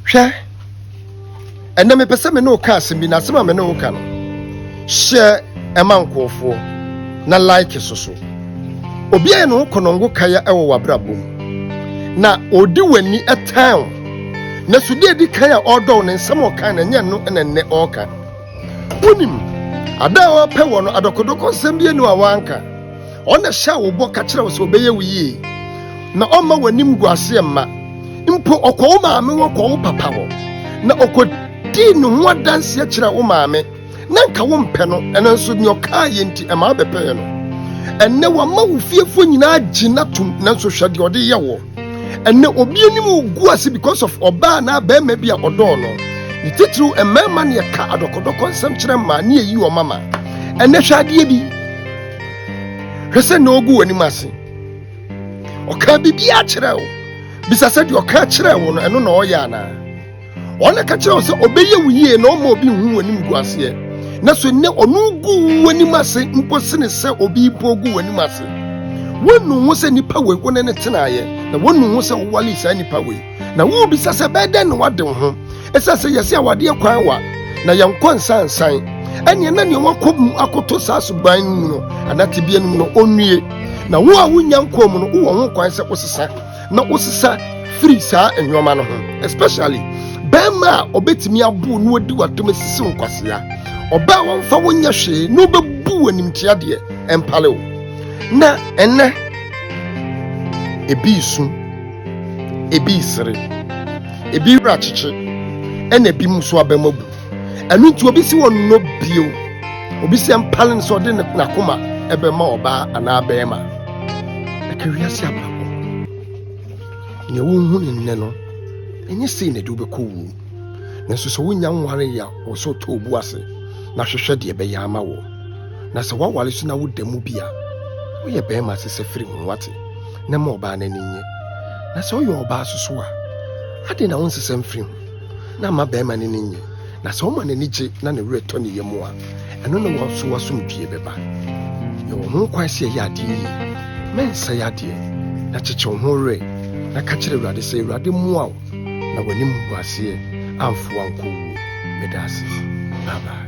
Hwɛ, ɛnnɛ mepɛ sɛ me ne wo ka asɛm bi, na asɛm a me ne wo ka no, hyɛ ɛma nkurɔfoɔ na like so so. Obi ayɛ ne ho kɔnɔngo kaya wɔ w'abrabɔ mu, na ɔdi w'ani tan wo. Na so deɛ ɛdi kan a ɔredɔ wo no, nsɛm a ɔka no ɛnyɛ ɛno na ɛnnɛ ɔreka. Wonim, ada a ɔrepɛ wɔ no, adɔkɔdɔkɔ nsɛm bi ani a wanka. Ɔno na ɛhyɛɛ wo bɔ ka kyerɛɛ wo sɛ ɔbɛyɛ wo yie, na ɔmma w'animguaseɛ mma. Mpo ɔkɔɔ wo maame hɔ kɔɔ wo papa hɔ, na ɔkɔdii ne ho adanseɛ kyerɛɛ wo maame. Na anka wompɛ no, nanso deɛ ɔkaeɛ nti, ɛma wobɛpɛɛ no. Ɛnnɛ wama wo fiefoɔ nyinaa agye no atom, nanso hwɛ deɛ ɔde yɛ woɔ. Ɛnnɛ obi anim regu ase because of ɔbaa anaa barima bi a ɔdɔɔ no. Ne titiriw mmarima na yɛka adɔkɔdɔkɔ nsɛm kyerɛ mmaa na yɛyi wɔn ama. Ɛnnɛ hwɛ adeɛ bi. hwɛ sɛ na ogu w'anim ase ɔka biribiara kyerɛ wo bisa sɛ deɛ ɔka kyerɛ wo no ɛno na ɔyɛ anaa ɔna ka kyerɛ wo sɛ ɔbɛyɛ wo yie na ɔma obi nhu w'anim gu aseɛ na so nnɛ ɔno gu w'anim ase mpo sene sɛ obi mpo gu w'anim ase wɔnu ho sɛ nipa wei wo ne ne tenaeɛ na wɔnu ho sɛ wowale saa nipa wei Na wubisa sɛ ɛbɛyɛ dɛn na wade wo ho? Esiane sɛ yɛse awadeɛ kwan wa na yɛnkɔ nsansan, ɛneɛ na nea wakɔ mu akoto saa suban no mu no anaa tebea no mu no ɔnnue. Na wo a wonnya nkɔɔ mu no, wowɔ ho kwan sɛ wosesa na wosesa firi saa nnoɔma no ho. Especially barima a ɔbɛtumi abow na wadi w'atam asisi wo nkwasea, ɔbaa a wɔmfa wo nyɛ hwee na ɔbɛbu wo animtia deɛ, ɛmpale wo. Na ɛnnɛ, ebi resu. Ebi resere, ebi werɛ akyekye, ɛnna ebi nso abam abu. Ɛno nti obi si wɔn nnɔ bio. Obi sɛ mpale no sɛ ɔde n'akoma bɛma ɔbaa anaa barima. Ɛka wiase abrabɔ. Nea wohu ne nnɛ no, ɛnyɛ sei na ɛde wobɛkɔ wuo. Nanso sɛ wonya nware yɛ wɔ sɛ ɔtɔ obu ase na hwehwɛ deɛ ɛbɛyɛ ama wɔ. Na sɛ woaware so na woda mu bi a, woyɛ barima ase sɛ firi ho wate. na ɛma ɔbaa no ani nnye. Na sɛ ɔyɛ ɔbaa nso so a, adɛn na ɔnsesa mfiri ho na ama barima no ani nnye? Na sɛ ɔma n'ani gye na ne werɛ tɔ ne yam a, ɛno ne wɔn so asomdwie bɛba. Yɛwɔ ho kwan sɛ yɛyɛ adeɛ yie. Mɛnsɛe adeɛ, na kyekyew ho werɛ, na ka kyerɛ Awurade sɛ, Awurade mmoa wo na w'anim gu aseɛ amfa wo ankɔ wuo. Meda ase. Bye bye.